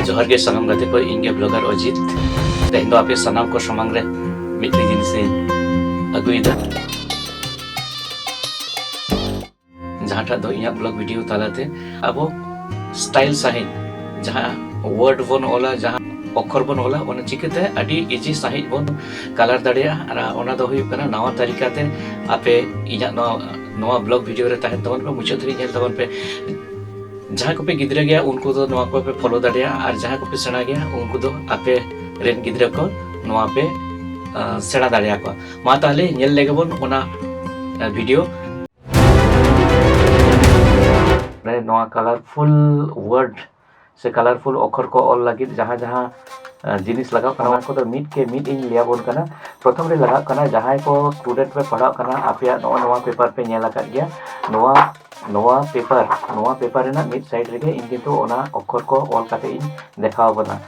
ᱡᱚᱦᱟᱨ ᱜᱮ ᱥᱟᱱᱟᱢ ᱜᱟᱛᱮ ᱠᱚ ᱤᱧ ᱜᱮ ᱵᱞᱚᱜᱟᱨ ᱚᱡᱤᱛ ᱛᱮᱦᱮᱧ ᱫᱚ ᱟᱯᱮ ᱥᱟᱱᱟᱢ ᱠᱚ ᱥᱟᱢᱟᱝ ᱨᱮ ᱢᱤᱫᱴᱤᱡ ᱡᱤᱱᱤᱥ ᱤᱧ ᱟᱹᱜᱩᱭᱮᱫᱟ ᱡᱟᱦᱟᱸᱴᱟᱜ ᱫᱚ ᱤᱧᱟᱹᱜ ᱵᱞᱚᱜ ᱵᱷᱤᱰᱤᱭᱳ ᱛᱟᱞᱟᱛᱮ ᱟᱵᱚ ᱥᱴᱟᱭᱤᱞ ᱥᱟᱺᱦᱤᱡ ᱡᱟᱦᱟᱸ ᱣᱟᱨᱰ ᱵᱚᱱ ᱚᱞᱟ ᱡᱟᱦᱟᱸ ᱚᱠᱷᱚᱨ ᱵᱚᱱ ᱚᱞᱟ ᱚᱱᱟ ᱪᱤᱠᱟᱹᱛᱮ ᱟᱹᱰᱤ ᱤᱡᱤ ᱥᱟᱺᱦᱤᱡ ᱵᱚᱱ ᱠᱟᱞᱟᱨ ᱫᱟᱲᱮᱭᱟᱜᱼᱟ ᱟᱨ ᱚᱱᱟ ᱫᱚ ᱦᱩᱭᱩᱜ ᱠᱟᱱᱟ ᱱᱟᱣᱟ ᱛᱟᱹᱨᱤᱠᱟ ᱛᱮ ᱟᱯᱮ ᱤᱧᱟᱹᱜ ᱱᱚᱣᱟ ᱱᱚᱣᱟ ᱵᱞᱚᱜᱽ ᱵᱷᱤᱰᱤᱭᱳ ᱨᱮ ᱛᱟᱦᱮᱱ ᱛᱟᱵᱚᱱ ᱯᱮ ᱢᱩᱪᱟᱹᱫ ᱫᱷᱟᱹᱨᱤᱡ ᱧᱮᱞ ᱛᱟᱵᱚᱱ ᱯᱮ ᱡᱟᱦᱟᱸᱭ ᱠᱚᱯᱮ ᱜᱤᱫᱽᱨᱟᱹ ᱜᱮᱭᱟ ᱩᱱᱠᱩ ᱫᱚ ᱱᱚᱣᱟ ᱠᱚᱯᱮ ᱯᱷᱳᱞᱳ ᱫᱟᱲᱮᱭᱟᱜᱼᱟ ᱟᱨ ᱡᱟᱦᱟᱸᱭ ᱠᱚᱯᱮ ᱥᱮᱬᱟ ᱜᱮᱭᱟ ᱩᱱᱠᱩ ᱫᱚ ᱟᱯᱮ ᱨᱮᱱ ᱜᱤᱫᱽᱨᱟᱹ ᱠᱚ ᱱᱚᱣᱟ ᱯᱮ ᱥᱮᱬᱟ ᱫᱟᱲᱮᱭᱟᱠᱚᱣᱟ ᱢᱟ ᱛᱟᱦᱞᱮ ᱧᱮᱞ ᱞᱮᱜᱮ ᱵᱚᱱ ᱚᱱᱟ ᱵᱷᱤᱰᱤᱭᱳ ᱱᱚᱣᱟ ᱠᱟᱞᱟᱨᱯᱷᱩᱞ ᱣᱟᱨᱰ ᱥᱮ ᱠᱟᱞᱟᱨᱯᱷᱩᱞ ᱚᱠᱷᱚᱨ ᱠᱚ ᱚᱞ ᱞᱟᱹᱜᱤᱫ ᱡᱟᱦᱟᱸ ᱡᱟᱦᱟᱸ ᱡᱤᱱᱤᱥ ᱞᱟᱜᱟᱜ ᱠᱟᱱᱟ ᱚᱱᱟ ᱠᱚᱫᱚ ᱢᱤᱫ ᱠᱮ ᱢᱤᱫ ᱤᱧ ᱞᱟᱹᱭ ᱟᱵᱚᱱ ᱠᱟᱱᱟ ᱯᱨᱚᱛᱷᱚᱢ ᱨᱮ ᱞᱟᱜᱟᱜ ᱠᱟᱱᱟ ᱡᱟᱦᱟᱸᱭ ᱠᱚ ᱥᱴᱩᱰᱮᱱᱴ ᱯᱮ ᱯᱟᱲᱦᱟᱜ ᱠᱟᱱᱟ ᱟᱯᱮᱭᱟᱜ ᱱᱚᱜᱼᱚ ᱱᱚᱣᱟ ᱯᱮᱯᱟᱨ ᱯᱮ ᱧᱮᱞ ᱟᱠᱟᱫ ᱜᱮᱭᱟ ᱱᱚᱣᱟ ᱱᱚᱣᱟ ᱯᱮᱯᱟᱨ ᱱᱚᱣᱟ ᱯᱮᱯᱟᱨ ᱨᱮᱱᱟᱜ ᱢᱤᱫ ᱥᱟᱭᱤᱰ ᱨᱮᱜᱮ ᱤᱧ ᱠᱤᱱᱛᱩ ᱚᱱᱟ ᱚᱠᱷᱚᱨ ᱠᱚ ᱚᱞ ᱠᱟᱛᱮ ᱤᱧ ᱫᱮᱠᱷᱟᱣ ᱟᱵᱚᱱᱟ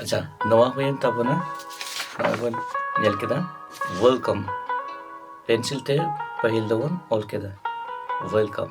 ᱟᱪᱪᱷᱟ ᱱᱚᱣᱟ ᱦᱩᱭᱮᱱ ᱛᱟᱵᱚᱱᱟ ᱱᱚᱜᱼᱚᱭ ᱵᱚᱱ ᱧᱮᱞ ᱠᱮᱫᱟ ᱣᱮᱞᱠᱟᱢ ᱯᱮᱱᱥᱤᱞ ᱛᱮ ᱯᱟᱹᱦᱤᱞ ᱫᱚᱵᱚᱱ ᱚᱞ ᱠᱮᱫᱟ ᱣᱮᱞᱠᱟᱢ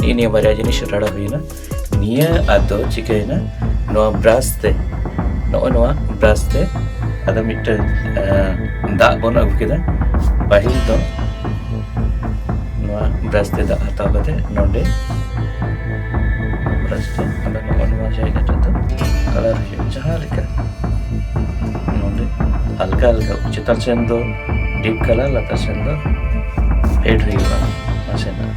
ᱱᱤᱭᱟᱹ ᱱᱤᱭᱟᱹ ᱵᱟᱨᱭᱟ ᱡᱤᱱᱤᱥ ᱨᱟᱲᱟ ᱦᱩᱭᱱᱟ ᱱᱤᱭᱟᱹ ᱟᱫᱚ ᱪᱤᱠᱟᱹᱭᱮᱱᱟ ᱱᱚᱣᱟ ᱵᱨᱟᱥ ᱛᱮ ᱱᱚᱜᱼᱚᱭ ᱱᱚᱣᱟ ᱵᱨᱟᱥ ᱛᱮ ᱟᱫᱚ ᱢᱤᱫᱴᱟᱝ ᱫᱟᱜ ᱵᱚᱱ ᱟᱹᱜᱩ ᱠᱮᱫᱟ ᱯᱟᱹᱦᱤᱞ ᱫᱚ ᱱᱚᱣᱟ ᱵᱨᱟᱥ ᱛᱮ ᱫᱟᱜ ᱦᱟᱛᱟᱣ ᱠᱟᱛᱮ ᱱᱚᱰᱮ ᱵᱨᱟᱥ ᱛᱮ ᱟᱫᱚ ᱱᱚᱜᱼᱚ ᱱᱚᱣᱟ ᱡᱟᱭᱜᱟ ᱨᱮᱫᱚ ᱠᱟᱞᱟᱨ ᱦᱩᱭᱩᱜᱼᱟ ᱡᱟᱦᱟᱸ ᱞᱮᱠᱟ ᱱᱚᱰᱮ ᱦᱟᱞᱠᱟ ᱦᱟᱞᱠᱟ ᱪᱮᱛᱟᱱ ᱥᱮᱱ ᱫᱚ ᱰᱤᱯ ᱠᱟᱞᱟᱨ ᱞᱟᱛᱟᱨ ᱥᱮᱱ ᱫᱚ ᱯᱷᱮᱰ ᱦᱩᱭᱩᱜᱼᱟ ᱱᱟᱥᱮᱱᱟᱜ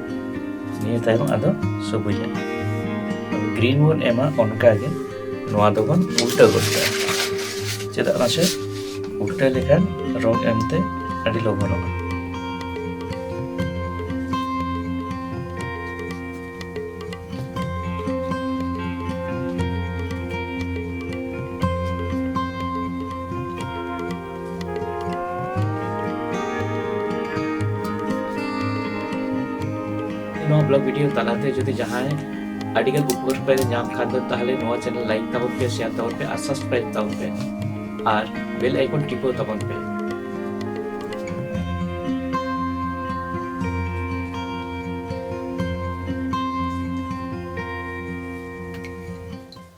ᱱᱤᱭᱟᱹ ᱛᱟᱭᱚᱢ ᱟᱫᱚ ᱥᱚᱵᱩᱡᱟ ᱜᱨᱤᱱ ᱵᱚᱱ ᱮᱢᱟ ᱚᱱᱠᱟᱜᱮ ᱱᱚᱣᱟ ᱫᱚᱵᱚᱱ ᱩᱞᱴᱟᱹ ᱜᱚᱫ ᱠᱟᱜᱼᱟ ᱪᱮᱫᱟᱜ ᱢᱟᱥᱮ ᱩᱞᱴᱟᱹ ᱞᱮᱠᱷᱟᱱ ᱨᱚᱝ ᱮᱢᱛᱮ ᱟᱹᱰᱤ ᱞᱚᱜᱚᱱᱚᱜᱼᱟ ᱱᱚᱣᱟ ᱵᱞᱚᱜ ᱵᱷᱤᱰᱤᱭᱳ ᱛᱟᱞᱟᱛᱮ ᱡᱩᱫᱤ ᱡᱟᱦᱟᱸᱭ ᱟᱹᱰᱤᱜᱟᱱ ᱩᱯᱠᱟᱹᱨ ᱯᱮ ᱧᱟᱢ ᱠᱷᱟᱱ ᱫᱚ ᱛᱟᱦᱚᱞᱮ ᱱᱚᱣᱟ ᱪᱮᱱᱮᱞ ᱞᱟᱭᱤᱠ ᱛᱟᱵᱚᱱ ᱯᱮ ᱥᱮᱭᱟᱨ ᱛᱟᱵᱚᱱ ᱯᱮ ᱟᱨ ᱥᱟᱵᱥᱠᱨᱟᱭᱤᱵ ᱛᱟᱵᱚᱱ ᱯᱮ ᱟᱨ ᱵᱮᱞ ᱟᱭᱠᱚᱱ ᱴᱤᱯᱟᱹᱣ ᱛᱟᱵᱚᱱ ᱯᱮ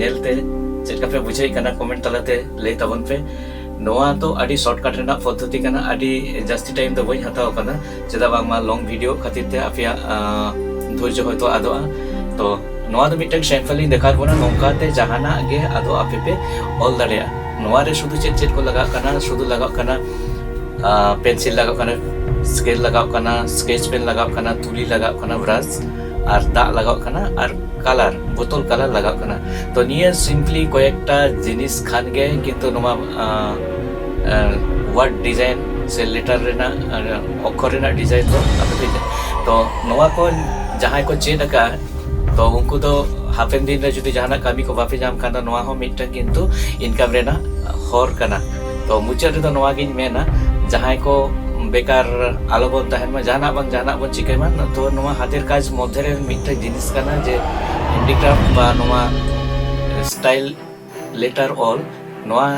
ᱧᱮᱞᱛᱮ ᱪᱮᱫ ᱞᱮᱠᱟ ᱯᱮ ᱵᱩᱡᱷᱟᱹᱣᱮᱫ ᱠᱟᱱᱟ ᱠᱚᱢᱮᱱᱴ ᱛᱟᱞᱟᱛᱮ ᱞᱟᱹᱭ ᱛᱟᱵᱚᱱ ᱯᱮ ᱱᱚᱣᱟ ᱫᱚ ᱟᱹᱰᱤ ᱥᱚᱨᱴᱠᱟᱴ ᱨᱮᱱᱟᱜ ᱯᱚᱫᱽᱫᱷᱚᱛᱤ ᱠᱟᱱᱟ ᱟᱹᱰᱤ ᱡᱟᱹᱥᱛᱤ ᱴᱟᱭᱤᱢ ᱫᱚ ᱵᱟᱹᱧ ᱦᱟᱛᱟᱣ ᱟᱠᱟᱫᱟ ᱪᱮᱫᱟᱜ ᱵᱟᱝᱢᱟ ᱞᱚᱝ ᱵᱷᱤᱰᱤᱭᱳ ᱠᱷᱟᱹᱛᱤᱨ ᱛᱮ ᱟᱯᱮᱭᱟᱜ ᱫᱷᱳᱨᱡᱚ ᱦᱚᱭᱛᱳ ᱟᱫᱚᱜᱼᱟ ᱛᱚ ᱱᱚᱣᱟ ᱫᱚ ᱢᱤᱫᱴᱟᱝ ᱥᱮᱢᱯᱮᱞ ᱤᱧ ᱫᱮᱠᱷᱟᱣ ᱵᱚᱱᱟ ᱱᱚᱝᱠᱟᱛᱮ ᱡᱟᱦᱟᱱᱟᱜ ᱜᱮ ᱟᱫᱚ ᱟᱯᱮ ᱯᱮ ᱚᱞ ᱫᱟᱲᱮᱭᱟᱜᱼᱟ ᱱᱚᱣᱟ ᱨᱮ ᱥᱩᱫᱷᱩ ᱪᱮᱫ ᱪᱮᱫ ᱠᱚ ᱞᱟᱜᱟᱜ ᱠᱟᱱᱟ ᱥᱩᱫᱷᱩ ᱞᱟᱜᱟᱜ ᱠᱟᱱᱟ ᱯᱮᱱᱥᱤᱞ ᱞᱟᱜᱟᱜ ᱠᱟᱱᱟ ᱥᱠᱮᱞ ᱞᱟᱜᱟᱜ ᱠᱟᱱᱟ ᱥᱠᱮᱪ ᱯᱮᱱ ᱞᱟᱜᱟᱜ ᱠᱟᱱᱟ ᱛᱩᱞᱤ ᱞᱟᱜᱟᱜ ᱠᱟᱱᱟ ᱵᱨᱟᱥ ᱟᱨ ᱫᱟᱜ ᱞᱟᱜᱟᱣ ᱠᱟᱱᱟ ᱟᱨ ᱠᱟᱞᱟᱨ ᱵᱳᱛᱚᱞ ᱠᱟᱞᱟᱨ ᱞᱟᱜᱟᱣ ᱠᱟᱱᱟ ᱛᱚ ᱱᱤᱭᱟᱹ ᱥᱤᱢᱯᱞᱤ ᱠᱚᱭᱮᱠᱴᱟ ᱡᱤᱱᱤᱥ ᱠᱷᱟᱱ ᱜᱮ ᱠᱤᱱᱛᱩ ᱱᱚᱣᱟ ᱣᱟᱨᱰ ᱰᱤᱡᱟᱭᱤᱱ ᱥᱮ ᱞᱮᱴᱟᱨ ᱨᱮᱱᱟᱜ ᱚᱠᱠᱷᱚᱨ ᱨᱮᱱᱟᱜ ᱰᱤᱡᱟᱭᱤᱱ ᱫᱚ ᱟᱯᱮ ᱯᱮ ᱛᱚ ᱱᱚᱣᱟ ᱠᱚ ᱡᱟᱦᱟᱸᱭ ᱠᱚ ᱪᱮᱫ ᱟᱠᱟᱫᱼᱟ ᱛᱚ ᱩᱱᱠᱩ ᱫᱚ ᱦᱟᱯᱮᱱ ᱫᱤᱱ ᱨᱮ ᱡᱩᱫᱤ ᱡᱟᱦᱟᱱᱟᱜ ᱠᱟᱹᱢᱤ ᱠᱚ ᱵᱟᱯᱮ ᱧᱟᱢ ᱠᱷᱟᱱ ᱫᱚ ᱱᱚᱣᱟ ᱦᱚᱸ ᱢᱤᱫᱴᱟᱝ ᱠᱤᱱᱛᱩ ᱤᱱᱠᱟᱢ ᱨᱮᱱᱟᱜ ᱦᱚᱨ ᱠᱟᱱᱟ ᱛᱚ ᱢᱩᱪᱟᱹᱫ ᱨᱮᱫᱚ ᱱᱚᱣᱟ ᱜᱤᱧ ᱢᱮᱱᱟ ᱡᱟᱦᱟᱸᱭ ᱠᱚ ᱵᱮᱠᱟᱨ ᱟᱞᱚ ᱵᱚᱱ ᱛᱟᱦᱮᱱ ᱢᱟ ᱡᱟᱦᱟᱱᱟᱜ ᱵᱟᱝ ᱡᱟᱦᱟᱱᱟᱜ ᱵᱚᱱ ᱪᱤᱠᱟᱹᱭ ᱢᱟ ᱛᱚ ᱱᱚᱣᱟ ᱦᱟᱛᱮᱨ ᱠᱟᱡᱽ ᱢᱚᱫᱽᱫᱷᱮ ᱨᱮ ᱢᱤᱫᱴᱮᱱ ᱡᱤᱱᱤᱥ ᱠᱟᱱᱟ ᱡᱮ ᱦᱮᱱᱰᱤᱠᱨᱟᱯᱷᱴ ᱵᱟ ᱱᱚᱣᱟ ᱥᱴᱟᱭᱤᱞ ᱞᱮᱴᱟᱨ ᱚᱞ ᱱᱚᱣᱟ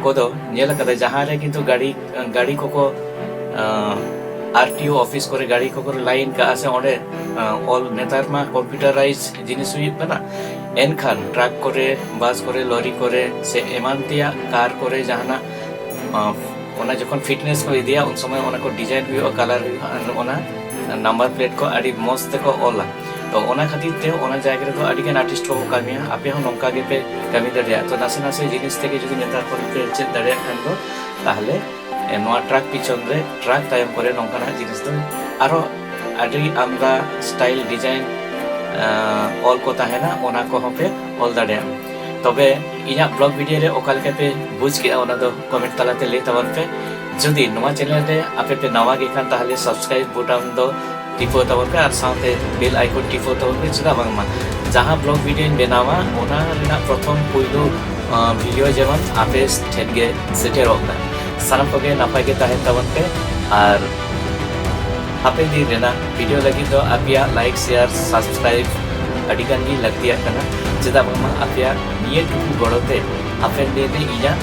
ᱠᱚᱫᱚ ᱧᱮᱞ ᱠᱟᱫᱟ ᱡᱟᱦᱟᱸ ᱨᱮ ᱠᱤᱱᱛᱩ ᱜᱟᱹᱰᱤ ᱜᱟᱹᱰᱤ ᱠᱚᱠᱚ ᱟᱨ ᱴᱤ ᱳ ᱚᱯᱷᱤᱥ ᱠᱚᱨᱮ ᱜᱟᱹᱰᱤ ᱠᱚᱠᱚ ᱞᱟᱭᱤᱱ ᱠᱟᱜᱼᱟ ᱥᱮ ᱚᱸᱰᱮ ᱚᱞ ᱱᱮᱛᱟᱨ ᱢᱟ ᱠᱚᱢᱯᱤᱭᱩᱴᱟᱨᱟᱭᱤᱡᱽ ᱡᱤᱱᱤᱥ ᱦᱩᱭᱩᱜ ᱠᱟᱱᱟ ᱮᱱᱠᱷᱟᱱ ᱴᱨᱟᱠ ᱠᱚᱨᱮ ᱵᱟᱥ ᱠᱚᱨᱮ ᱞᱚᱨᱤ ᱠᱚᱨᱮ ᱥᱮ ᱮᱢᱟᱱ ᱛᱮᱭᱟᱜ ᱠᱟᱨ ᱠᱚᱨᱮ ᱡᱟᱦᱟᱱᱟᱜ ᱚᱱᱟ ᱡᱚᱠᱷᱚᱱ ᱯᱷᱤᱴᱱᱮᱥ ᱠᱚ ᱤᱫᱤᱭᱟ ᱩᱱ ᱥᱚᱢᱚᱭ ᱚᱱᱟ ᱠᱚ ᱰᱤᱡᱟᱭᱤᱱ ᱦᱩᱭᱩᱜᱼᱟ ᱠᱟᱞᱟᱨ ᱦᱩᱭᱩᱜᱼᱟ ᱟᱨ ᱚᱱᱟ ᱱᱟᱢᱵᱟᱨ ᱯᱞᱮᱴ ᱠᱚ ᱟᱹᱰᱤ ᱢᱚᱡᱽ ᱛᱮᱠᱚ ᱚᱞᱟ ᱛᱚ ᱚᱱᱟ ᱠᱷᱟᱹᱛᱤᱨ ᱛᱮ ᱚᱱᱟ ᱡᱟᱭᱜᱟ ᱨᱮᱫᱚ ᱟᱹᱰᱤ ᱜᱟᱱ ᱟᱨᱴᱤᱥᱴ ᱠᱚᱠᱚ ᱠᱟᱹᱢᱤᱭᱟ ᱟᱯᱮ ᱦᱚᱸ ᱱᱚᱝᱠᱟ ᱜᱮᱯᱮ ᱠᱟᱹᱢᱤ ᱫᱟᱲᱮᱭᱟᱜᱼᱟ ᱛᱚ ᱱᱟᱥᱮ ᱱᱟᱥᱮ ᱡᱤᱱᱤᱥ ᱛᱮᱜᱮ ᱡᱩᱫᱤ ᱱᱮᱛᱟᱨ ᱠᱷᱚᱱ ᱯᱮ ᱪᱮᱫ ᱫᱟᱲᱮᱭᱟᱜ ᱠᱷᱟᱱ ᱫᱚ ᱛᱟᱦᱚᱞᱮ ᱱᱚᱣᱟ ᱴᱨᱟᱠ ᱯᱤᱪᱷᱚᱱ ᱨᱮ ᱴᱨᱟᱠ ᱛᱟᱭᱚᱢ ᱠᱚᱨᱮ ᱱᱚᱝᱠᱟᱱᱟᱜ ᱡᱤᱱᱤᱥ ᱫᱚ ᱟᱨᱚ ᱟᱹᱰᱤ ᱟᱢᱫᱟ ᱥᱴᱟᱭᱤᱞ ᱰᱤᱡᱟᱭᱤᱱ ᱚᱞ ᱠᱚ ᱛᱟᱦᱮᱱᱟ ᱚᱱᱟ ᱠᱚᱦᱚᱸ ᱯᱮ ᱚᱞ ᱫᱟᱲᱮᱭᱟᱜᱼᱟ ᱛᱚᱵᱮ ᱤᱧᱟᱹᱜ ᱵᱞᱚᱜ ᱵᱷᱤᱰᱤᱭᱳ ᱨᱮ ᱚᱠᱟ ᱞᱮᱠᱟ ᱯᱮ ᱵᱩᱡᱽ ᱠᱮᱜᱼᱟ ᱚᱱᱟ ᱫᱚ ᱠᱚᱢᱮᱱᱴ ᱛᱟᱞᱟᱛᱮ ᱞᱟᱹᱭ ᱛᱟᱵᱚᱱ ᱯᱮ ᱡᱩᱫᱤ ᱱᱚᱣᱟ ᱪᱮᱱᱮᱞ ᱨᱮ ᱟᱯᱮ ᱯᱮ ᱱᱟᱣᱟ ᱜᱮ ᱠᱷᱟᱱ ᱛᱟᱦᱚᱞᱮ ᱥᱟᱵᱥᱠᱨᱟᱭᱤᱵᱽ ᱵᱳᱴᱟᱢ ᱫᱚ ᱴᱤᱯᱟᱹᱣ ᱛᱟᱵᱚᱱ ᱯᱮ ᱟᱨ ᱥᱟᱶᱛᱮ ᱵᱮᱞ ᱟᱭᱠᱚᱱ ᱴᱤᱯᱟᱹᱣ ᱛᱟᱵᱚᱱ ᱯᱮ ᱪᱮᱫᱟᱜ ᱵᱟᱝᱢᱟ ᱡᱟᱦᱟᱸ ᱵᱞᱚᱜ ᱵᱷᱤᱰᱤᱭᱳᱧ ᱵᱮᱱᱟᱣᱟ ᱚᱱᱟ ᱨᱮᱱᱟᱜ ᱯᱨᱚᱛᱷᱚᱢ ᱯᱩᱭᱞᱩ ᱵᱷᱤᱰᱤᱭᱳ ᱡᱮᱢᱚᱱ ᱟᱯᱮ ᱴᱷᱮᱱ ᱜᱮ ᱥᱮᱴᱮᱨᱚᱜ ᱢᱟ ᱥᱟᱱᱟᱢ ᱠᱚᱜᱮ ᱱᱟᱯᱟᱭ ᱜᱮ ᱛᱟᱦᱮᱱ ᱛᱟᱵᱚᱱ ᱯᱮ ᱟᱨ ᱦᱟᱯᱮᱱ ᱫᱤᱱ ᱨᱮᱱᱟᱜ ᱵᱷᱤᱰᱤᱭᱳ ᱞᱟᱹᱜᱤᱫ ᱫᱚ ᱟᱯᱮᱭᱟᱜ ᱞᱟᱭᱤᱠ ᱥᱮᱭᱟᱨ ᱥᱟᱵᱥᱠᱨᱟᱭᱤᱵ ᱟᱹᱰᱤ ᱜᱟᱱ ᱜᱮ ᱞᱟᱹᱠᱛᱤᱭᱟᱜ ᱠᱟᱱᱟ ᱪᱮᱫᱟᱜ ᱵᱟᱝᱢᱟ ᱟᱯᱮᱭᱟᱜ ᱱᱤᱭᱟᱹ ᱴᱩᱠᱩ ᱜᱚᱲᱚ ᱛᱮ ᱦᱟᱯᱮᱱ ᱫᱤᱱ ᱨᱮ ᱤᱧᱟᱹᱜ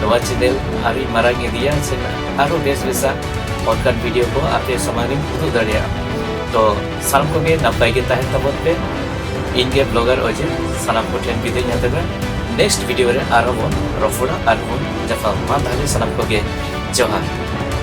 ᱱᱚᱣᱟ ᱪᱮᱱᱮᱞ ᱟᱹᱰᱤ ᱢᱟᱨᱟᱝ ᱤᱫᱤᱭᱟ ᱥᱮ ᱟᱨᱚ ᱵᱮᱥ ᱵᱮᱥᱟᱜ ᱚᱱᱠᱟᱱ ᱵᱷᱤᱰᱤᱭᱳ ᱠᱚ ᱟᱯᱮ ᱥᱟᱢᱟᱝ ᱨᱮᱧ ᱩᱫᱩᱜ ᱫᱟᱲᱮᱭᱟᱜᱼᱟ ᱛᱚ ᱥᱟᱱᱟᱢ ᱠᱚᱜᱮ ᱱᱟᱯᱟᱭ ᱜᱮ ᱛᱟᱦᱮᱱ ᱛᱟᱵᱚᱱ ᱯᱮ ᱤᱧ ᱜᱮ ᱵᱞᱚᱜᱟᱨ ᱚᱡᱮ ᱥᱟᱱᱟᱢ ᱠᱚ ᱴᱷᱮᱱ ᱵᱤᱫᱟᱹᱧ ᱦᱟᱛᱟᱣᱟ ᱱᱮᱠᱥᱴ ᱵᱷᱤᱰᱤᱭᱳ ᱨᱮ ᱟᱨᱦᱚᱸ ᱵᱚᱱ ᱨᱚᱯᱚᱲᱟ ᱟᱨ ᱵᱚᱱ ᱡᱟᱯᱟᱢ ᱢᱟ ᱛᱟᱦᱞᱮ ᱥᱟᱱᱟᱢ ᱠᱚᱜᱮ ᱡᱚᱦᱟᱨ